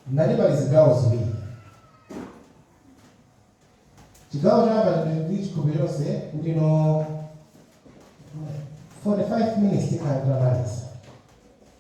tinali pa zigawo ziwiri chigawo choyamba ndi chikhulupiriro chonse kuti no 45 minutes tikhala titamaliza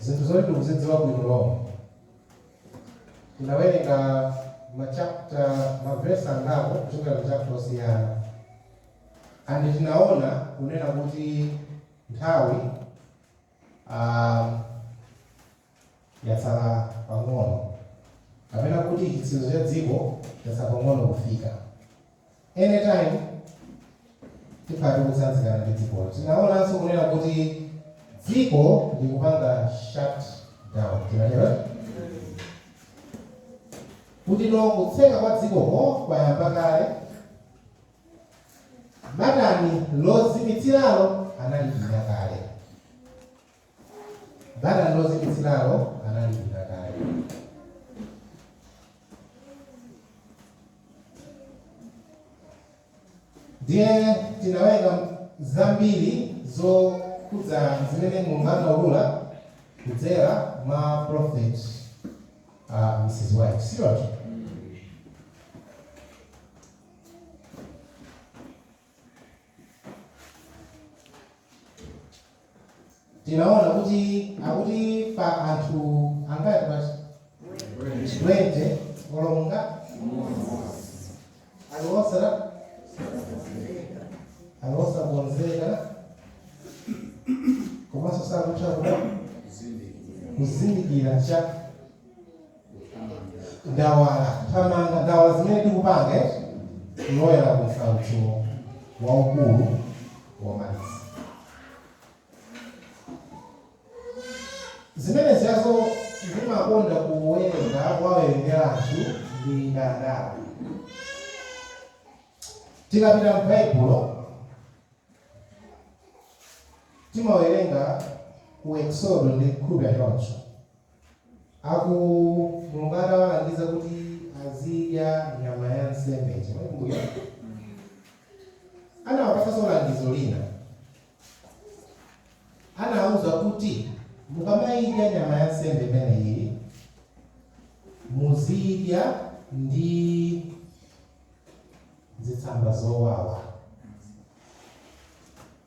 Zinthu zoti tikuzidziwa bwino lomwe. Tinawerenga ma chapter, mavesi angapo kuchokera mu chapter osiyana. And tinaona kunena kuti nthawi ah, yatsala pang'ono. Kapena kuti chitsirizo cha dziko chatsala pang'ono kufika. any time tikhala tikutsanzikana ndi dziko. Tinaonanso kunena kuti dziko likupanga shut down, tinatero eh? kuti no kutseka kwa dzikoko kwayamba kale batani lozimitsiralo analipinya kale Batani lozimitsiralo analipinya kale. Ndiye tinawerenga zambiri zokhudza zimene Mulungu anaulula kudzera mwa prophet uh, Mrs. White. Sio? tinaona kuti akuti pa anthu angati basi 20 olonga aliwosera aliwosa kuonzeka komanso sakutha kutha kuzindikira cha ndawala thamanga ndawala zimene tikupanga kuloyera ku msautso waukulu womaliza zimene ziyazo ndimakonda kuwerenga kuwawerengera anthu ndi ndawala tikapita m'baibulo timawerenga ku eksodo ndi nkhupeza choncho Apo Mulungu atawalangiza kuti azidya nyama ya nsembe ija, mwaikumbukira? Anawapatsanso langizo lina. Anawauza kuti, Mukamaidya nyama ya nsembe imeneyi, muzidya ndi zitsamba zowawa.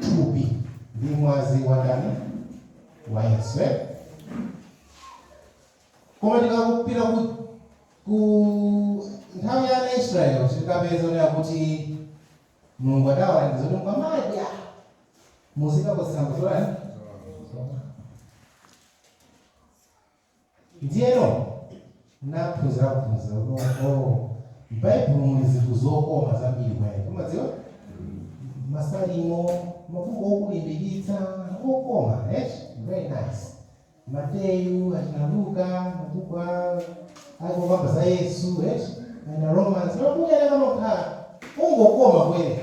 thupi ndi mwazi wa ndani wa yesu eh? koma tikapita ku, ku nthawi ya ana israeli tikapeza onera kuti mulungu adawalangiza kuti mukamadya muzikadya zitsamba zotani Ndiyeno naphunzira phunziro kuti oh, m'Baibulo muli zinthu zokoma zambiri kumene timadziwa masalimo mabuku okulimbikitsa okoma eh? very nice mateyu achina luka mabuku a- ake okamba za yesu eh? achina romans mabuku enaake amakhala ongokoma kuwerenga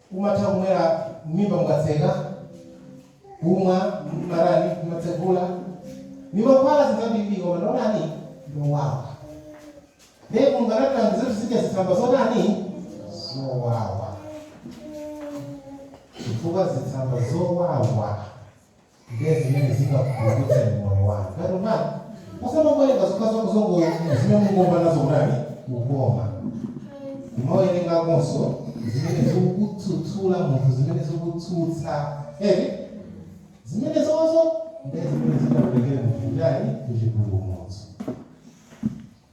Umatha kumwera mmimba mukatseka, kumwa, mmatani, kumatsegula, ndi mankhwala zinthu zambirimbiri, koma ndotani ndowawa. Ndiye Mulungu anatilangiza kuti tizidya zitsamba zotani zowawa, chifukwa zitsamba zowawa ndiye zimene zingakupulumutseni moyo wanu tatumani osamangowerenga zokhazo muzongo zimene mungomva nazo kutani kukoma kumawerengakonso zimene zikudzudzula munthu zimene zikutsutsa eti zimenezozo ndiye zimene zingakutengere munthu kutani kuchipulumutso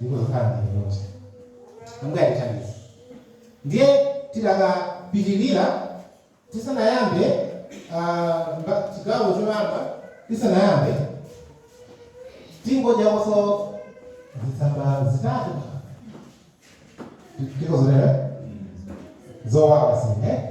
ndikuzokhala mneneri amgati chabwino ndiye tidakapitirira tisanayambe chigawo choyamba tisanayambe tingodyakonso zitsamba zitatu tikozolera zowawa sine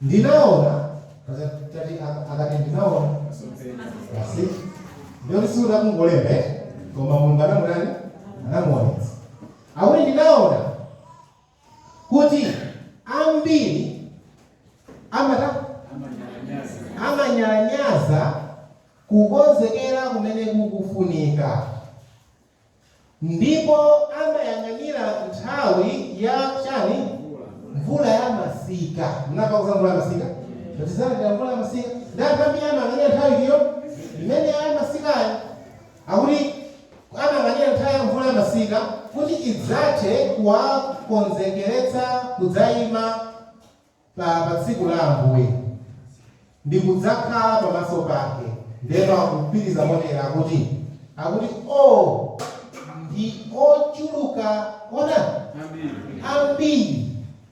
ndinaona eti akati ndinaona basi ndiye kuti sikuti akungolemba koma mulungu anamutani anamuonetsa akuti ndinaona kuti ambiri amata amanyalanyaza kukonzekera kumene kukufunika Ndipo amayang'anira nthawi ya, chani? mvula ya masika. Munamvako za mvula ya masika? Tizalandira mvula ya masika. Ndi anthu ambiri amayang'anira nthawi itiyo? Imeneyo ya masikayo. Akuti amayang'anira nthawi ya mvula ya masika kuti idzathe kuwakonzekeretsa kudzaima. pa pa tsiku la Ambuye, ndi kudzakhala pamaso pake. Ndiyeno akupitiriza motero, akuti, akuti, O, ndi ochuluka, otani, ambiri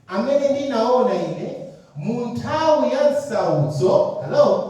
amene ndinawona ine mu nthawi ya nsautso. Hallo!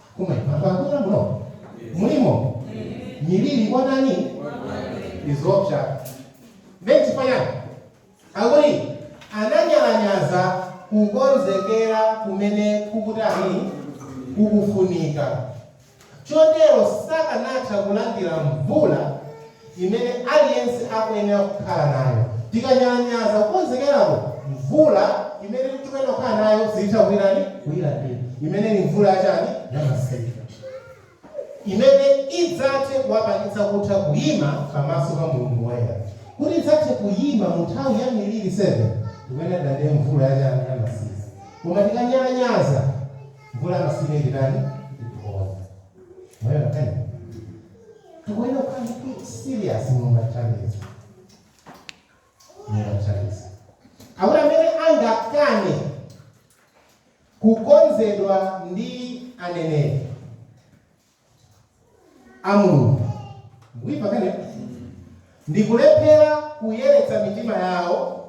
Kumwera. Anthu akumwera muno? Mulimo? Miliri kwa ndani? Ndizoopsa. Ndiye nchifukwa chani? Akuti ananyalanyaza kukonzekera kumene kukutani? Kukufunika. Chotero sakanatha kulandira mvula imene aliyense akuyenera kukhala nayo. Tikanyalanyaza kukonzekerako, mvula imene tikuyenera kukhala nayo sititha kuyitani? Kuyilandira. Imene ili mvula ya chani? Ya masika. Imene idzathe kuwapangitsa kutha kuyima pamaso pa Mulungu Woyera. Kuti tidzathe kuyima mu nthawi ya miliri 7, tikuyenera tilandire mvula ya chani? Ya masika. Koma tikanyalanyaza, mvula ya masika ititani? Itiponya. Mwayona nkhaniyi? Tikuyenera kukhala serious monga chalizi. Monga chalizi. Akuti amene angakane kukonzedwa ndi aneneri a Mulungu. Mukuimva nkhaniyi ndi kulephera kuyeretsa mitima yawo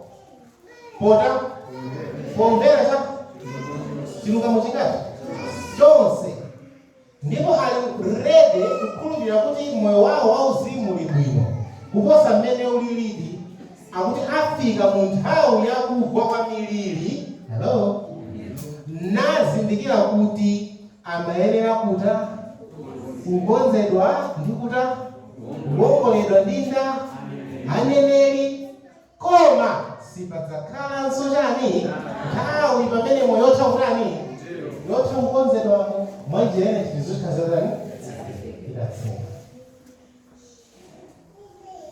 pota pomvera cha chilungamo chingati chonse Ndipo ali ready kukhulupirira kuti moyo waho wauzimu uli bwino kuposa mmene ulilidi, akuti afika mu nthawi ya kugwa kwa miliri, Hallo? nazindikira kuti amayenera kuta? kukonzedwa ndi kuta? kuwongoledwa ndi nda? aneneri? Koma sipadzakhalanso chani? Nthawi pamenepo yotha kutani? Yotha kukonzedwamo mwa njira ina chinthu zotha zatani? Idatseka.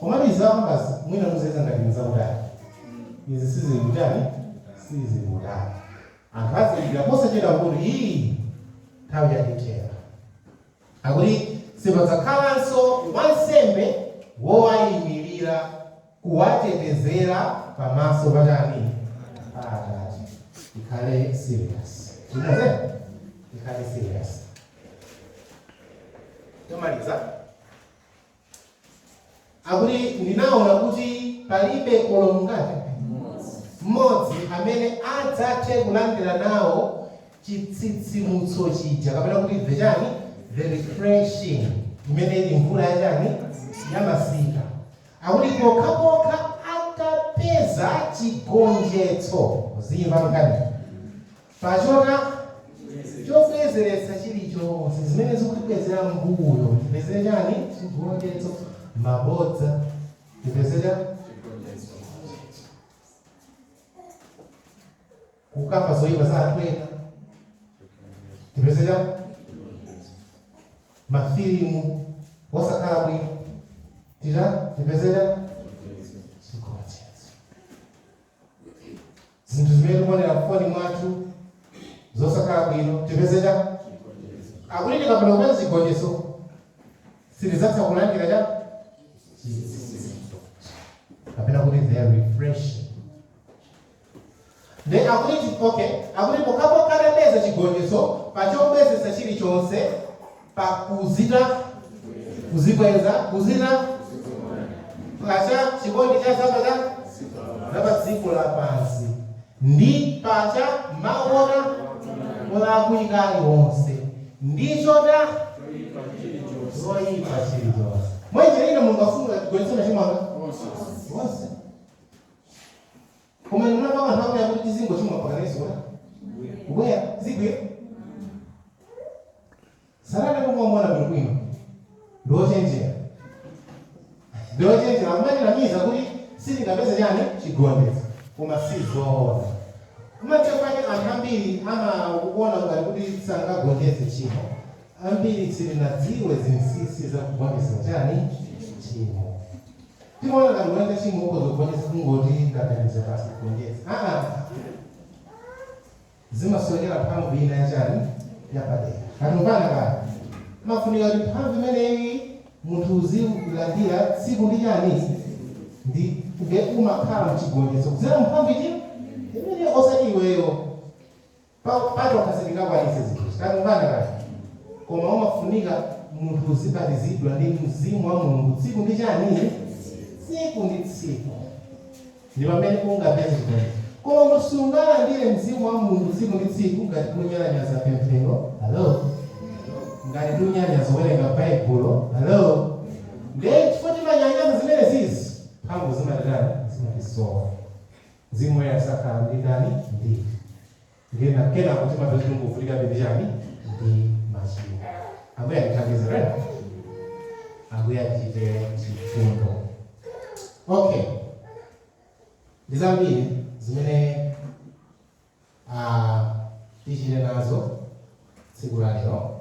Komatu izi akambazi mwina muziyesa ngati nzakutali. Izi sizili kutani? Sizili kutali. Anthu azindikira posachedwa kuti hii nthawi yatithera. Akuti sipadzakhalanso wansembe wowaimilira. kuwatetezera pamaso pa ndani? pa Atate. Tikhale serious. Sichoncho? Tikhale serious. Tomaliza. Akuti ndinaona kuti palibe olo mngati mmodzi amene adzathe kulandira nawo chitsitsimutso chija kapena kuti the chani the refreshing imene ili mvula ya chani ya masika Akuti pokhapokha atapeza chigonjetso, muziimva nkhaniyi, pa chota chobwezeretsa chilichonse zimene zikutibwezera mbuyo, tipezere chani chigonjetso, mabodza tipezere chigonjetso. kukamba zoyipa za anthu ena tipezere mafilimu osakhala bwino tita tipezere chigonjetso zinthu zimene tikuonera mfoni mwathu zosakhala bwino tipezere akuti tikapanda kupeza chigonjetso sitidzatha kulandira cha kapena kuti they are refreshing Ndiye akuti chi- okay, akuti pokhapokha tapeza chigonjetso pa chobwezetsa chilichonse pa kuzita kudzikweza kuzita pacha chikondi cha za za zapa dziko lapansi ndi pacha maona olakwika aliwonse ndi choda zoyipa chilichonse mwenje ine Mulungu afuna chigonjetso machimo anga onse koma ndinapa anthu akuya kuti tizingochimwa pakanezona kubwera zibwera sarana kumwa mwana bwinobwino ndiwochenjera ndiwochenjera amatinamiza kuti sitingapeze chani chigonjetso koma si zoona pamathero pake anthu ambiri amaona ngati kuti sangagonjetse chimo ambiri sitinadziwe zinsinsi za kugonjetsa chani chimo Timaona ngati kunena tchimo ukhoza kugonjetsa kungoti ndaganiza basi ndigonjetse aa zimasowekera mphamvu ina yachani yapadera kaya tumvana kaya umafunika kuti mphamvu imeneyi munthu uzilandira tsiku ndi chani ndi nde umakhala mchigonjetso kudzera mphamvu iti imeneyo osati iweyo Pa tokha sitingakwanitse zinthuzi. Kaya tumvana kaya. Koma umafunika munthu uzibatizidwa ndi Mzimu wa Mulungu tsiku ndi chani? Tsiku ndi tsiku. Ndi pamene ungapeze chigonjetso. Koma sungalandire Mzimu wa Mulungu tsiku ndi tsiku ngati ukunyalanyaza pemphero. Hallo? Ngati ukunyalanyaza kuwerenga Baibulo. Hallo? Ndiye chifukwa timanyalanyaza zimenezizi, mphamvu zimatitani? Zimatisowa. Mzimu Woyera sakhala ndi ndani? Ndi. Ndiye na kenako timapeza kuti tikuvutikabe ndi chani? Ndi machimo. Ambuye atithandize eti? Ambuye atichite chifundo. Okay. Ndi zambiri zimene ah, tichite nazo tsiku la lero.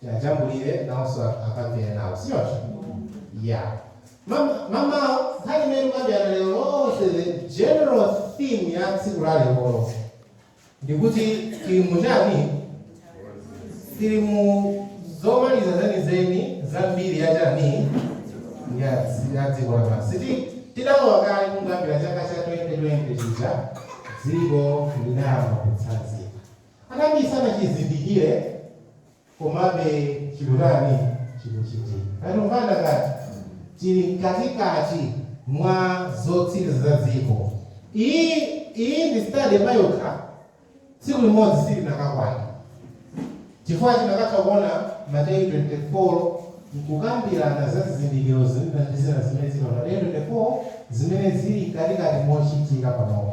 tiajambulire nawonso anthu apange nawo si choncho ya Mam- mamawa nkhani imene tikukambirana lero lonse the general theme ya tsiku la lerolo ndikuti tili muchani tili mu zomaliza zenizeni za mbiri ya chani ya dzi- ya dziko lapansi Ti- tidalowa kale kungoyambira chaka cha 2020 chija dziko linayamba kutsanzika Anambiri sanachizindikire, komabe chikutani? Chikuchitika. Tikumvana kodi tili mkatikati mwa zotsiriza za dziko. Iyi, iyi ndi study payokha, tsiku limodzi silinakakwana, chifukwa tinakatha kuona Mateyu 24, nkukambirana za zizindikiro zina ndi zina zimene zili pa Mateyu 24, zimene zili mkatikati mochitika panopa.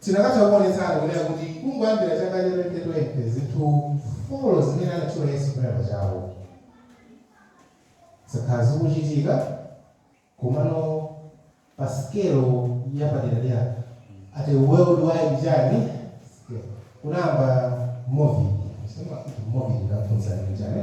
tinakatha kuonetsana kunena kuti kungoyambira chaka cha 2020 zinthu folo zimene anatchula yesu kunena pachawo zakhala zikuchitika komano pa scale yapaderadera at a worldwide chani scale. kunayamba covid si mwa kuti covid inaphunzitsa chani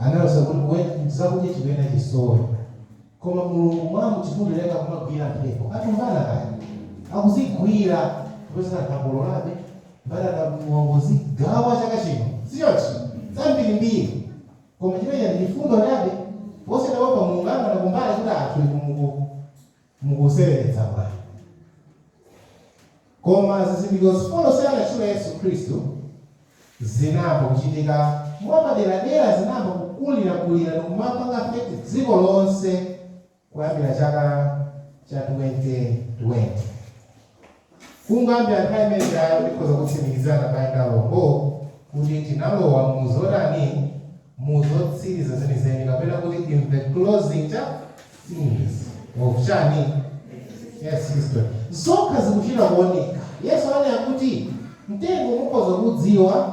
analosa kuti mwina zakudya chikwenda chisowe koma mulungu mwa mchifundo chake akumagwira mphepo tikumvana kaya akuzigwira kuti anthu akololabe mbatata mulunguzi gawa chaka chino siyochi zambirimbiri koma chimenecho ndi chifundo chabe posiyana wapa mulungu angana kumbali kuti anthu inu muku mukuseweretsa bwanji koma zizindikiro zifolo zi anatchula yesu khristu zinayamba kuchitika mwapaderadera zinayamba kukulirakulira ndikumapanga affect dziko lonse kuyambira chaka cha 2020 Kungoyambira nthawi imene ijayo tikhoza kutsimikizirana abale ndi alongo kuti tinalowa mu zotani? Mu zotsiriza zenizeni, kapena kuti in the closing cha things of chani? Earth's history. Zokha zikuchita kuoneka. Yesu ananena kuti mtengo mukhoza kuudziwa.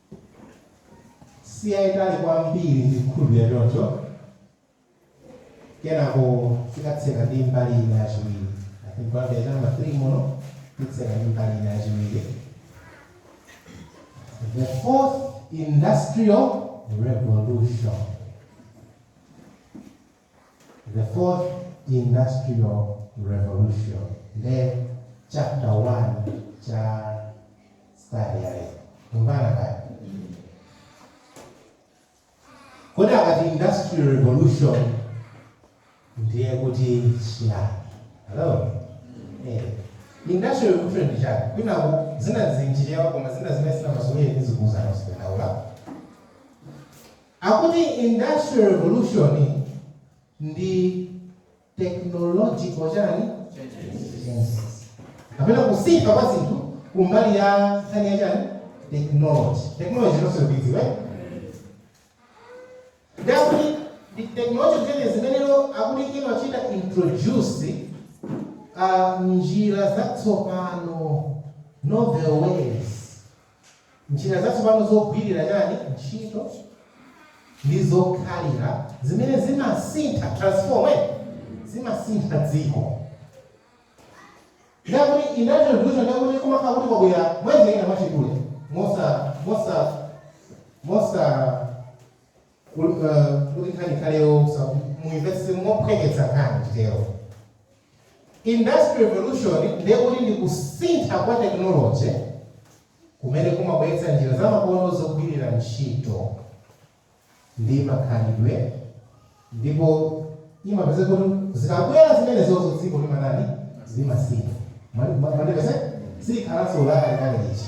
siyayitali kwambiri ndikukhulupirira choncho kenako tikatseke ndi mbali ina yachiwiri i think kwambiri namba 3 muno titseka ndi mbali ina yachiwiri the fourth industrial revolution The fourth industrial revolution nde chapter 1 cha study ya lero kumvana kaye kodi akati industrial revolution ndiye kuti chiyani hello eh industrial revolution ndi chani kuna zina zinjirizi koma zina zimene zina masomeni zikuuzana zikudaula Akuti industrial revolution ndi technological chani changes kapena kusintha kwa zinthu kumbali ya nkhani ya chani technology technology inonso mukuidziwa eh? ndi akuti ndi technological changes zimeneno akuti imachita introduce uh, njira zatsopano novel ways Njira zatsopano zogwirira, chani, ntchito ndi zokhalira zimene zimasintha, transform, eti? Zimasintha dziko. Ndiye kuti industrial revolution ndiye kuti kumakhala kuti kwabwera mwanjira ina mwachidule, mosa, mosa, mosa. Kut kuti nkhani ikhale yoopsa muimvetse mophweketsa nkhani titero. Industrial Revolution ndiye kuti ndi kusintha kwa technology kumene kumabweretsa njira zamakono zogwirira ntchito ndi makhalidwe ndipo imapezeka kuti zikabwera zimenezozo dziko limatani? Limasintha. Mwandipeza? Silikhalanso lakalekale lija.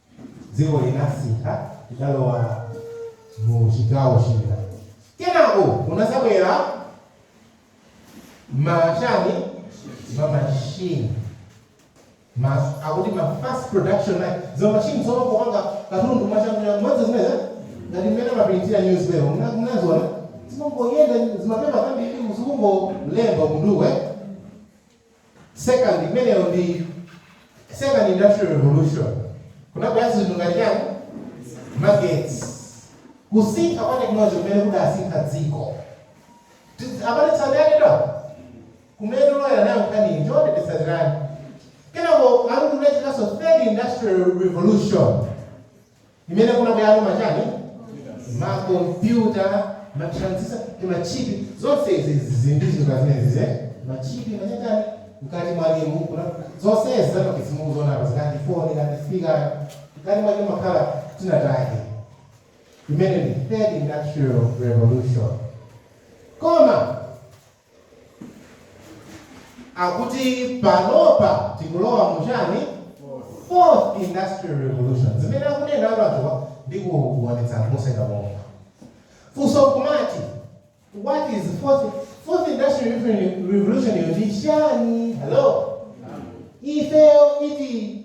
Dziko linasintha, tidalowa mu chigawo china. Kenako kunadzabwera ma chani ma machine ma akuti mass production line zo machine zo kupanga katundu mwachangu mwadzo zimeza ngati mmene mapirintira newspaper muna- munazionapo zimangoyenda zimapepa zambiri zikungolemba kunduwe Second, imeneyo ndi second industrial revolution. Kunabwera zinthu ngati chani? Magetsi. Kusintha kwa technology kumene kudasintha dziko. Tiz- Abale tsatirani kumene tikulowera nayo nkhani cholinga tizitsatirana. Kenako akuti kunachitikanso third industrial revolution. imene kunabwerano machani makompyuta matransistor ndi machipi zonse izi zizindizo za zimenezi machipi machachani mkati mwakemu kuna zonse izi zamagetsi mukuziona apa zikuti foni ngati speaker mkati mwake mumakhala tinatake imene ndi third industrial revolution koma akuti panopa tikulowa mu chani fourth industrial revolution zimene akunena anthuwa ndi kuonetsa anthu moseka momo funso nkumati what is fourth, fourth industrial Revolution- revolution iyo ndi chani hello ifeyo iti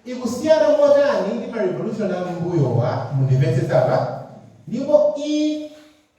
ikusiyana motani ndi ma revolution a mbuyowa mundimvetsetse apa ndipo i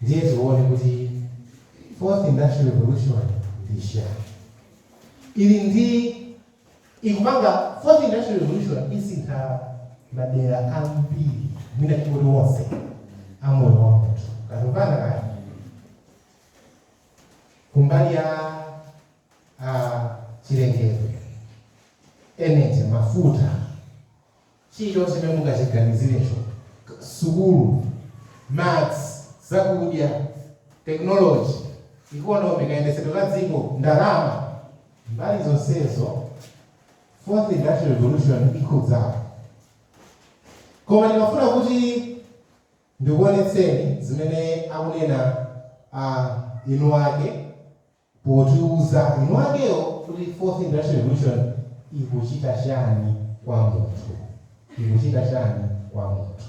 Ndiye tione kuti Fourth Industrial Revolution ndi chani. Ili ndi ikupanga Fourth Industrial Revolution isintha madera ambiri mwina tingoti wonse a moyo wa munthu kutipanga kaya kumbali ya ah, chilengedwe energy mafuta Chilichonse chimene mungachiganizirecho, sukulu, madzi, zakudya, tekinoloji, ikonomi, kayendetsedwe ka dziko, ndalama, mbali zonsezo Fourth Industrial Revolution ikhudzapo. Koma ndimafuna kuti ndikuonetseni zimene akunena eni ake. potiuza eni wakewo kuti Fourth Industrial Revolution ikuchita chani kwa munthu, ikuchita chani kwa munthu.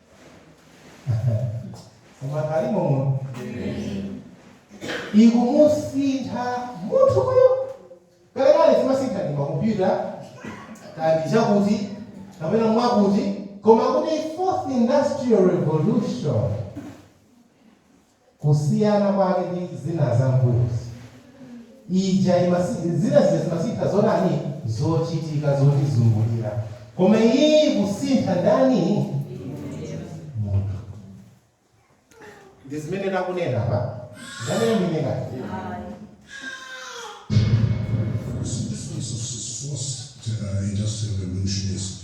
koma alimo muno ikumusintha munthu uyo kalekale zimasintha ndi makompyuta kandi chakuti kapena mwakuti koma kuti fourth industrial revolution kusiyana kwake ndi zina za mbuyozi, ija zina zija zimasintha zotani, zochitika zotizungulira, koma iyiyi ikusintha ndani, munthu. Ndi zimene takunena apa, ndi amene akuti This is a source to uh, industrial revolutionist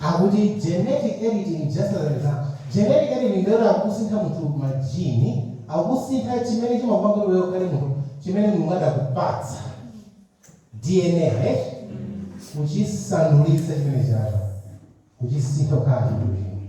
Akuti genetic editing just as an example genetic editing ndiye kuti akukusintha munthu ma gene akukusintha chimene chimakupanga kuti iweyo ukhale munthu chimene Mulungu adakupatsa DNA eti kuchisandulitsa chimenechocho kuchisintha kukhala chinthu china.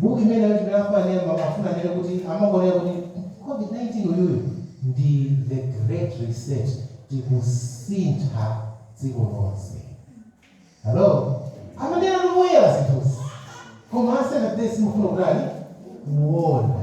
Book imene ndinayankhula ija amafuna anene kuti amakuonera kuti covid 19 uyuyu ndi the great reset tikusintha dziko lonse hello amaneratu poyera zinthuzi koma a Seventh Day simufuna kutani kuona.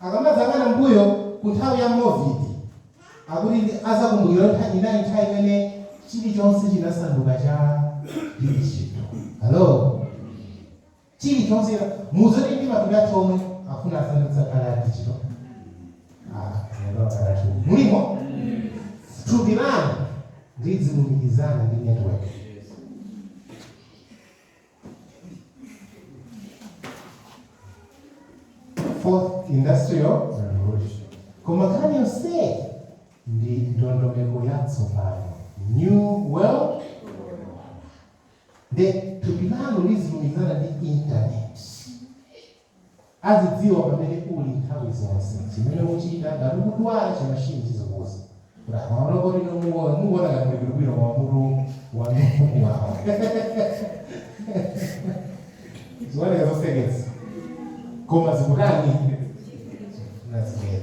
Akamadzayang'ana m'mbuyo ku nthawi ya COVID, akuti ndi adzakumbukira kuti iyo inali nthawi imene chilichonse chinasanduka cha digital. Hello? Chilichonse china, mudziwa zoti ndi matupi athu omwe afuna asandutse akhale a digital? Ah, mwendo wakhala thupi. Mulimo? Thupi lanu lidzilumikizana ndi network. fourth industrial revolution koma nkhani yonse ndi ndondomeko yatsopano new world nde thupi lanu lizilumikizana ndi internet azidziwa pamene uli nthawi zonse, chimene ukuchita, ngati ukudwala, chimashini chizokuuza kuti amaona poti inu mukuona mukuona ngati muli bwinobwino koma mutu wanu ukuwawa ziwoneka zoseketsa koma zikutani that's it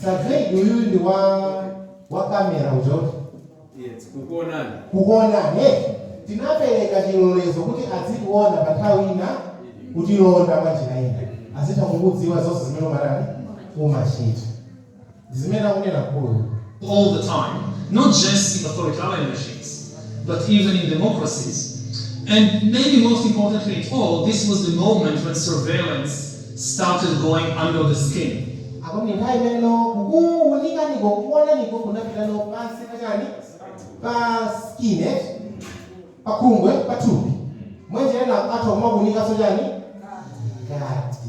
Surveillance uyu ndi wa wa kamera uzoti Yes, kukuonani. kukuonani eh, tinapereka chilolezo kuti azikuona pa nthawi ina kutilonda mwa njira ina azitha kukudziwa zonse zimene umatani umachita zimene akunena mkuluyu. all the time, not just in authoritarian regimes, but even in democracies. And maybe most importantly of all, this was the moment when surveillance started going under the skin. Akuti ndi nthawi imene no kukuunikaniko, kukuonaniko kunapita no pansi pa chani? Pa skin eti? Pa khungu eh? Pa thupi. Mwa njira ina atha kumakuunikanso chani? Mkati.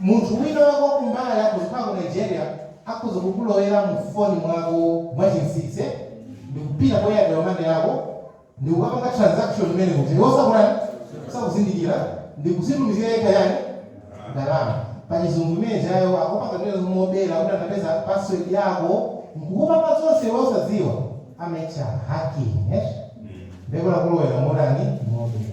Munthu wina wa kumbali kuchoka ku Nigeria akhoza kukulowera mu foni mwako mwachinsinsi ndikupita ku Airtel money yako ndikukapanga transaction imene muja iwe osakutani, osakuzindikira ndikuzitumizira yekha chani, ndalama. Pachizungu imene ijayo akupanga zimenezo mobera kuti anapeza password yako nkukupanga zonse iwe osadziwa, amayitcha hacking eti, ndekuti akulowera motani, mobera.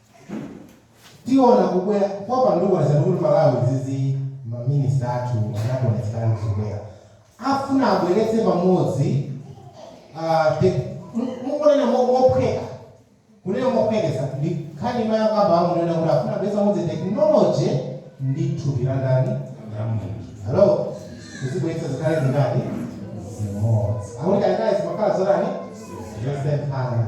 tiona kubwera kwa panduwa zalulu malawi izi ma minister athu anationetseratu kubwera afuna abweretse pamodzi ah, te- mu- mukunena mo- mophweka kunena mophweketsa ndi nkhani imayakamba amunena kuti afuna abweretse pamodzi technology ndi thupi la ndani hello kuzibweretsa zikhale zingati zimodzi akuti kalekale zimakhala zotani zosemphana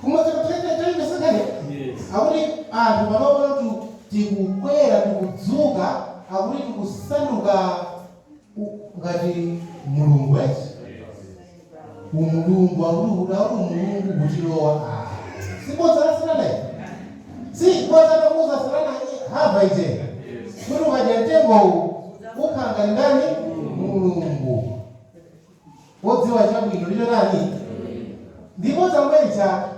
Koma chakuthekera cholinga satanic akuti anthu panopa tu tikukwera tikudzuka akuti tikusanduka ngati Mulungu eti umulungu akuti kuti akuti umulungu kutilowa ayi si bodza la satana eti si bodza lomuuza satana hava lija kuti ukadya mtengowu ukhala ngati ndani mulungu Wodziwa chabwino ndi chotani? ndi bodza kumene chake.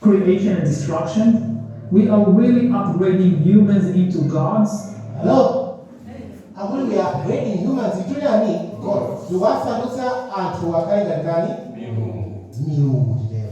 creation and destruction. We are really upgrading humans into gods? Hello? Akuti we are upgrading humans into chani? Gods. Tikuwasandutsa anthu akhale ngati ndani? Milungu. Milungu titero.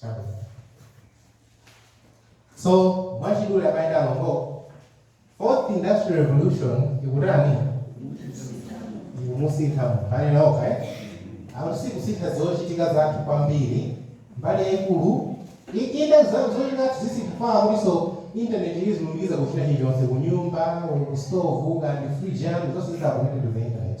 Chabwino. So, mwachidule ndimayenda loko. Fourth Industrial Revolution ikutani? Ikumusintha munthu. Anena okha, eh? Akuti sikusintha zochitika zathu kwambiri. Mbali yaikulu inde zochitika zathu zisintha kuti so internet izilumikiza kuchita chilichonse kunyumba, kustovu, kaya ndi fridge zonse zidzakonekite to the internet.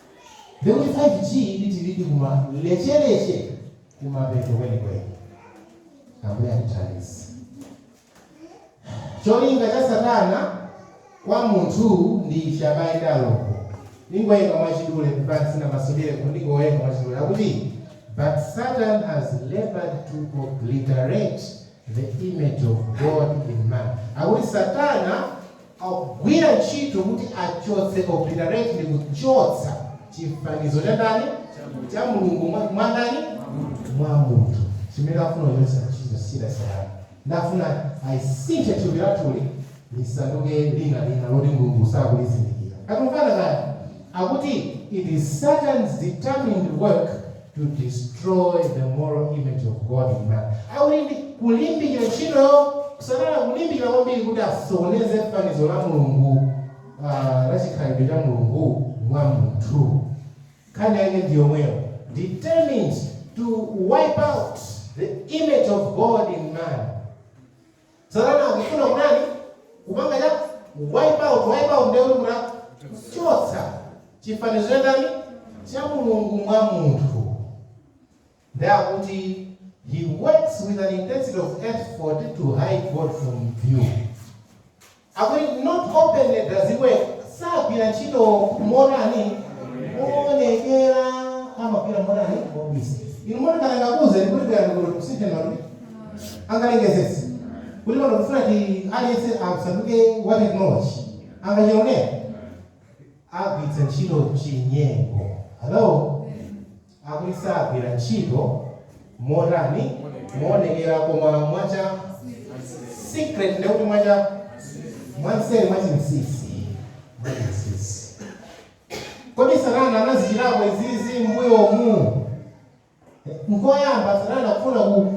Mbeu ya 5G ili tilidi kumalechelechе kumapeto kwenikweni. Ambuye atithandize. Cholinga cha satana kwa munthu ndi chabayenda loko. Ndingowerenga mwachidule kupansi na masudile koma ndingowerenga mwachidule. Akuti, but Satan has labored to obliterate the image of God in man. Akuti satana Akugwira ntchito kuti achotse, obliterate, ndi kuchotsa chifanizo cha ndani? Cha Mulungu. Mwa, mwa ndani? Mwa munthu. Chimene akufuna kuchotsa ntchito za satana. Ndi afuna alisinthe thupi lathuli lisanduke lina lina loti Mulungu sakulizindikira. Tikumvana kaya? Akuti it is Satan's determined work to destroy the moral image of God in man. Akuti ndi kulimbikira ntchito yake satana kulimbikira kwambiri kuti asokoneze fanizo la Mulungu uh, la chikhalidwe cha Mulungu mwa munthu. Nkhani yake ndi yomweyo. Determined to wipe out the image of God in man. Satana akufuna kutani? Kupanga cha wipe out, wipe out ndiye kuti kutani kuchotsa chifanizo cha ndani? Cha Mulungu mwa munthu. Ndiye akuti he works with an intensity of effort to hide God from view. Akuti not openly does he work, Sagwira ntchito motani? Moonekera. Amagwira motani? Mobisa. Inu moti ngati angakuuzeni kuti bwerani kuno tikusintheni matupi? Angalengezetse. Kuti pano tikufuna ti aliyense asanduke wa technology. Angachite zoona? Agwiritsa ntchito chinyengo. Hello? akuti sagwira ntchito, motani, moonekera, koma mwa secret, ndiye kuti mwa cha mwa mseri, mwa chinsinsi, mwa chinsinsi. Kodi Satana anazichitapo izizi mbuyomu? Nkoyamba Satana kufuna ku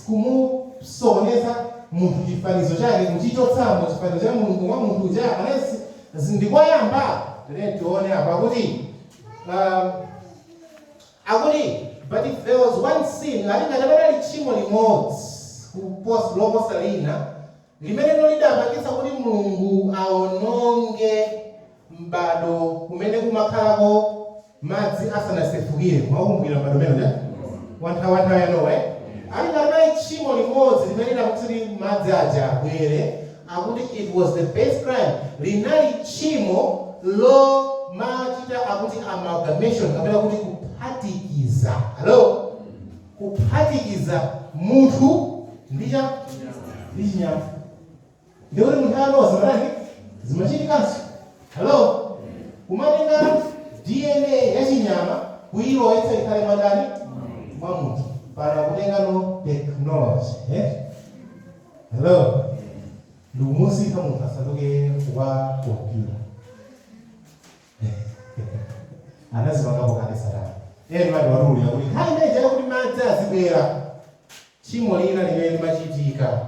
kumusokoneza munthu chifanizo chake kuchichotsamo chifanizo cha Mulungu mwa munthu uja aneneri ndikoyamba. Tiyeni tione apa kuti Um, akuti but if there was one sin ati ngati panali tchimo limodzi kuposa loposa lina limenelo lidapangitsa kuti Mulungu aononge m'bado umene kumakhalako madzi asanasefukire mwakumbukira m'bado umene uja wa nthawi wa nthawi ya Nowa eh? ati ngati panali tchimo limodzi limene lidapangitsa kuti madzi aja abwere akuti it was the base crime, linali tchimo lomachita akuti amalgamation kapena kuti kuphatikiza. Hello? Kuphatikiza munthu ndi cha ndi chinyama. Ndiye kuti nthawi ya Nowa zimatani? Zimachitikanso. Hello? Kumatenga DNA ya chinyama kuilowetsa ikhale mwa ndani? Mwa munthu. Pano akutengano technology. Eh? Hello. Mu munthu kaya utasanduke wa kompyuta. Anazipanga kwa kanisa lake. Yeye ndiye akuti ya kuti. Nthawi ina ija kuti madzi azibwera. Tchimo lina limene limachitika.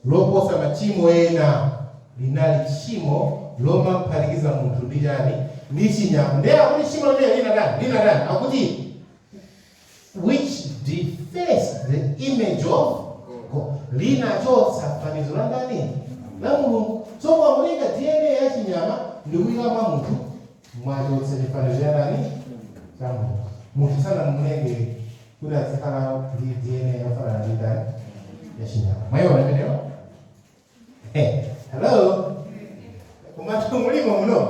Loposa machimo ena linali tchimo lomaphatikiza munthu ndi chani ndi chinyama. Ndiye akuti tchimo limeneli linatani? Linatani? Akuti which defaced the image of God. Linachotsa fanizo la ndani? La Mulungu. So mukatenga DNA ya chinyama ndi kuika mwa munthu, mwachotsa chifanizo cha ndani? Cha Mulungu. Munthu sanamulenge kuti azikhala ndi DNA yofanana ndi chani? Ya chinyama. Mwaiona imeneyo? Hey, hello. Kumatu mulimo muno.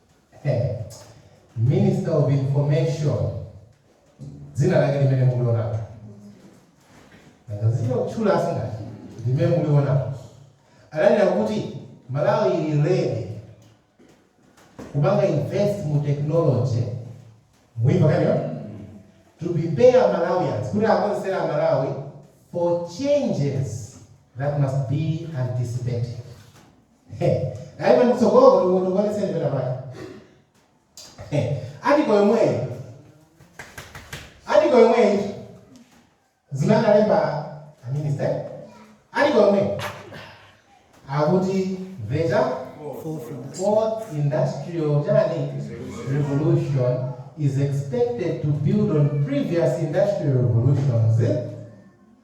Minister of information dzina lake limene mulionapo nanga ndichite kutchula si ndi limene mulionapo ananena kuti Malawi ili ready kupanga invest mu technology muimba kanyo to prepare Malawians kuti akonzekeretse aMalawi for changes that must be anticipated He, naima mtsogolo kuti uwonongoletseni pena pake. He, article yomweyi. Article yomweyi. Zimene analemba a minister. Article yomweyi. Akuti the Fourth industrial. fourth industrial chani revolution is expected to build on previous industrial revolutions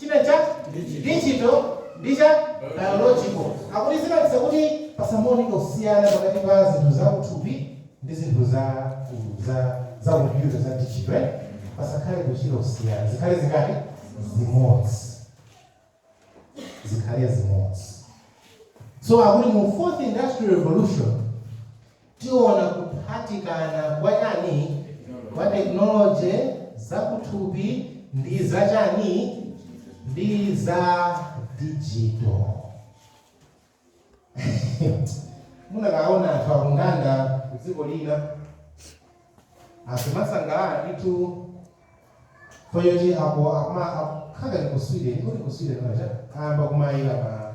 China cha digital ndi cha biological. Akuti zipangitsa kuti pasamaoneke kusiyana pakati pa zinthu za kuthupi ndi zinthu za ku za za computer za digital eh? Pasakhale kuchita kusiyana. Zikhale zingati? Zimodzi. Zikhale zimodzi. So akuti mu fourth industrial revolution Tiona kuphatikana kwa chani? Kwa technology, zakuthupi ndi za chani? Ndi za digital. Munakaona anthu akung'anda kudziko lina akumasangalala ndithu chifukwa choti apo akuma akukhala ndi ku Sweden, kodi ku Sweden aja ayamba kumayika ma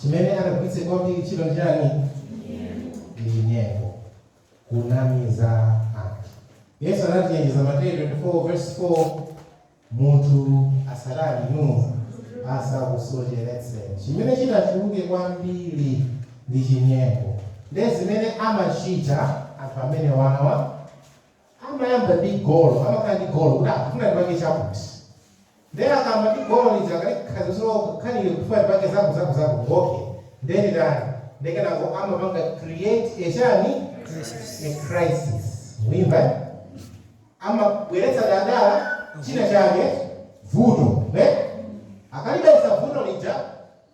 chimene angagwiritse kwambiri ntchito nchiyani? Ndi chinyengo, kunamiza anthu. Yesu anatichenjeza Mateyu 24 vesi 4 munthu asatani inu asakusocheretse. Chimene chitachuluke kwambiri ndi chinyengo, ndi zimene amachita anthu amene awawa. amayamba ndi golo amakhala ndi golo kuti akufuna ndipange chakuti nde akayamba ndi golo lija akalikhaziso kakhalile kufuna ndipange zaku zaku zaku ok nde nditani nde kenako amapanga create a chani a crisis mwina amabweretsa dala china chake vuto ne akalibweretsa vuto lija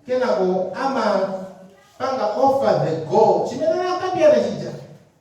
kenako amapanga offer the goal chimene akambiyana chija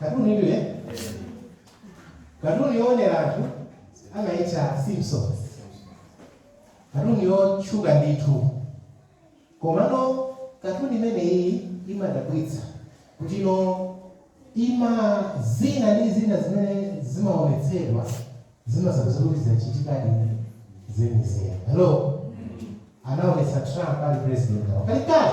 katuni ndiye katuni yoonera anthu amaitcha simpsons katuni yotchuka ndithu komano katuni imeneyi imadabwitsa kuti ino ima zina ndi zina zimene zimaonetsedwa zimadzapeza kuti zachitikadi zenizeni hello anaonetsa trump ali president oo kalekale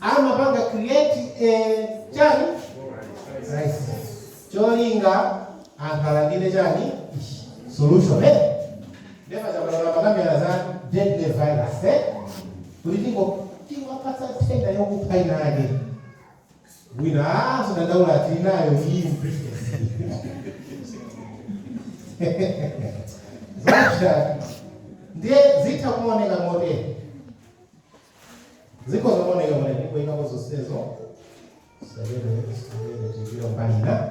amapanga create eh, chani crisis cholinga anthu alandire chani solution eh? Never zabalala amakambira za deadly virus eh? kuti tingo tiwapatsa nthenda yokupha inayake Wina, ah, sadandaula ati inayo iyi mu Britain. Zake ndiye zitha kuoneka motere. Ziko zooneka motere ndipo ikapo zonsezo. Sabene, sabene, tizira mbalina.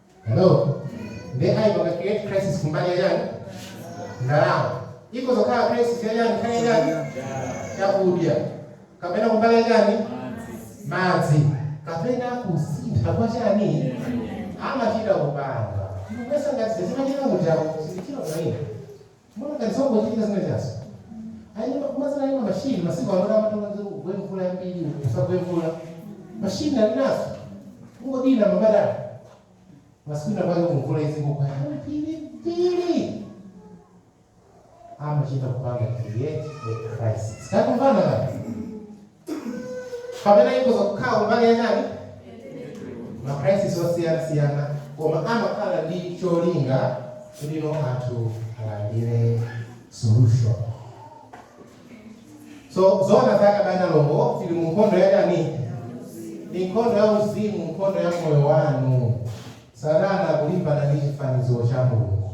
Hello? Ndiye ayipanga create crisis kumbali ya chani? Ndalama. Ikhoza kukhala crisis ya chani? Kaya ya chani? Chakudya. Kapena kumbali ya chani? Madzi. Kapena kusintha kwa chani? Amachita kupanga. Muyesa ngati zimachita mutawo, sizichita kwa ine. Muona ngati zongochitika zimene chazo. Ayi kumazana ayi machine masiku ano amatha kuti kugwe mvula yambiri kusagwe mvula. Machine ali nazo. Kungodina mabatani. Masiku enaake kuti mvula izingogwa. Pili pili. Amachita kupanga create a crisis. Takumvana ngati. kapena ikhoza kukhala kumbali yachani macrisis osiyanasiyana koma amakhala ndi cholinga choti anthu alandire solution so zona zake abale alongo tili mu nkhondo yachani ni nkhondo ya uzimu nkhondo ya moyo wanu satana akulimbana ndi chifanizo cha mulungu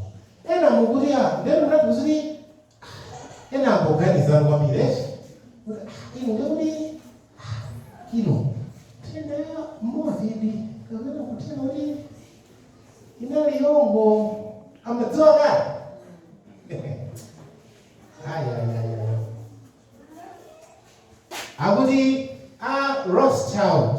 ena mukuti a ndeni mutatu zili Ena akuganiza kwambiri eti kuti ino ndi kuti ino nthenda ya mmodzi idi kapena kunena kuti inali yongo amadziwa kale ayayaya akuti a rothschild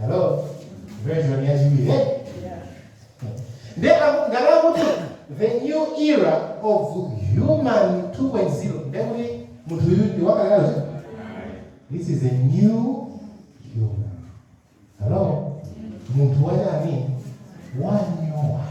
Hello? Version yachiwiri. eh? Ndiye aku- ngati akuti the new era of human 2.0 ndiye kuti munthu uyu ndi wakalekale uja? This is a new human. Hello? Munthu wachani? Wanyowani.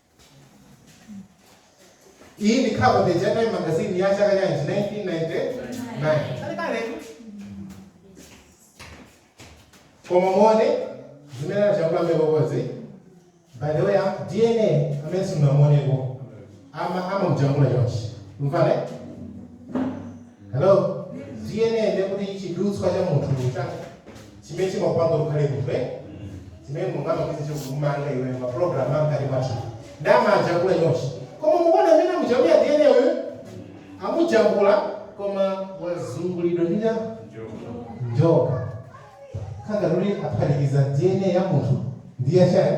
iyi ndi cover page ya time magazine ya chaka chanji 1999 kale kale koma muone zimene anajambulapo kozi by the way ah, dna amene simunamuoneko amamujambula chonchi mvale hello dna ndekuti chidutswa cha munthu cha chimene chimakupanga ukhale munthu eh? zimene mulungu amachita kukumanga iwe maprogram amkati mwathu nde amajambula chonchi koma mukuona mmene amujambula dna uyu amujambula koma wazungulidwa ndi njoka kanga luli aphatikiza dna ya munthu ndi yachani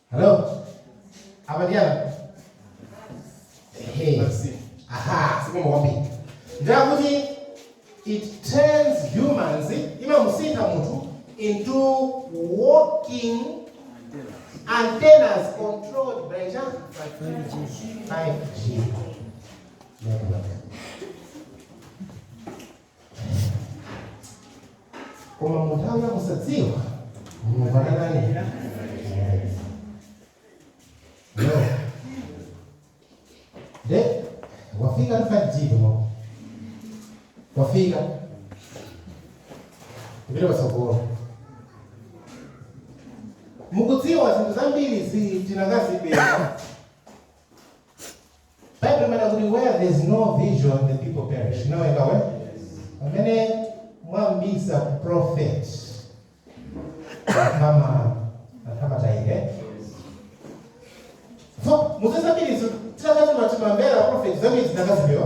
Hello? Apa ndi apa? Ehe. Aha, sikumu kwambiri. Nde akuti it turns humans imamusintha munthu into walking antennas controlled by cha 5G. Ndakubaka. koma mu nthawi ya kusadziwa mulungu anatani no de wafika ni 5G no wafika kupita patsogolo mukudziwa zinthu zambiri ziti tikanazipeza Baibulo limanena kuti where there is no vision the people perish. Inawerenga we? Pamene mwabisa prophet kama kama taile. So, muzeza zambiri titakati mwatimambela prophet zambiri zinakaziwika.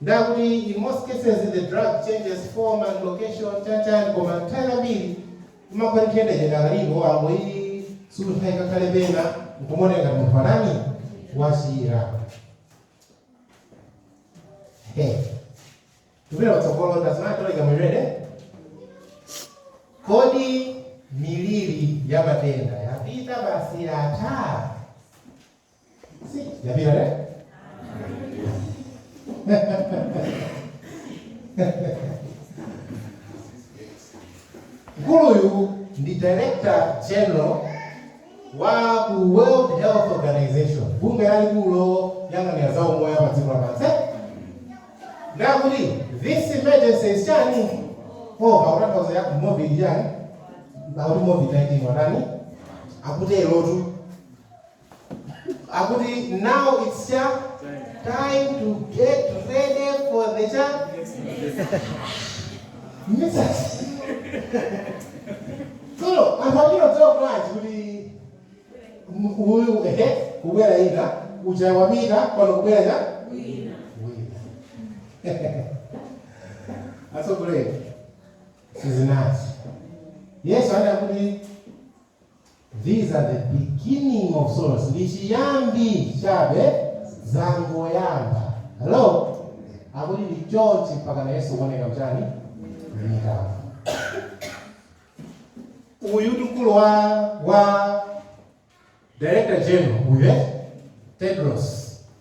Nde akuti in most cases the drug changes form and location chan chan koma nthawi zambiri imakhala nthenda idakaliko angoisuntha ikakhale kwina nkumaoneka ngati munthu watani wachira. Hey. Tipite patsogolo tazimatoleka miliri. Kodi miliri ya matenda yapita basi yatha? Yapita le? Mkuluyu ndi Director General wa ku World Health Organization, bungwe lalikulu loyang'anira za umoyo pa dziko lapansi. Nde akuti this emergency is chani over kutanthauza ya Covid chani akuti Covid 19 watani akuterotu akuti now it's cha time to get ready for the cha mitsati tsono anthu amene odziwa kulanji kuti m- uyu ehe kubwera ina uja wamika pano kubwera cha wina atsogoleri sizinathe yesu anakuti These are the beginning of sorrows, ndi chiyambi chabe, zangoyamba. Hello? Akuti ndi chonchi mpakana Yesu kuoneka mchani? Mmitambo. Uyu ndi mkulu wa, wa Director General, uyo eh? Tedros.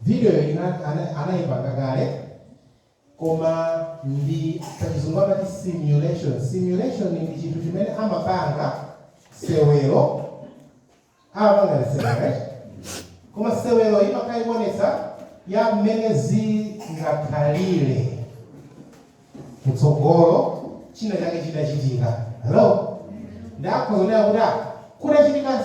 Video ina anaipanga kale koma ndi pachizungu amati simulation. Simulation ndi chinthu chimene amapanga sewero amapanga sewero right? Koma sewero imakhala ikuonetsa ya mmene zingakhalire kutsogolo china chake chitachitika. Hello? Ndikhoza kunena kuti ah, kutachitika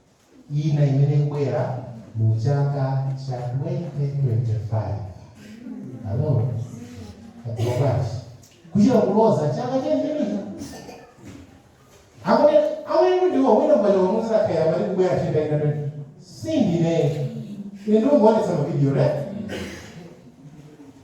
ina imene ikubwera mu chaka cha 2025 hello akudziwa bwanji kuchita kuloza chaka chenichenicho amene amene ndiwo wina pano wamuuza kaya pati kubwera nthenda ina sindine ine ndikungoonetsa mavidiyo right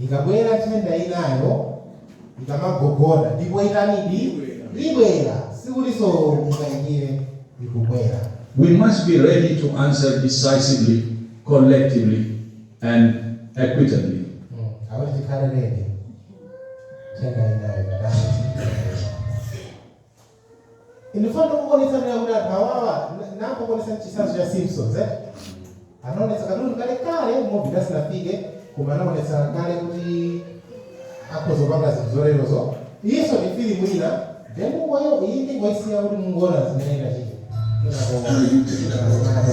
Ikabwera nthenda inayo ikamagogoda ndipo itani ibwera sikutinso mukayikire ikubwera. We must be ready to answer decisively, collectively and equitably. Akuti tikhale ready nthenda inayo ikatani ibwera. Ndifuna ndikuonetseni ndinena kuti anthu awawa ndinakuonetsani chitsanzo cha Simpsons eh? Anaonetsa katuni kale kale movie isanafike koma anaonetsa kale kuti akhoza kupanga zinthu zolerozo iyinso ndi filimu ina then mungoyo iyi ndingoisiya kuti mungoona zimene zinachitika kenako Are you picking up? kenako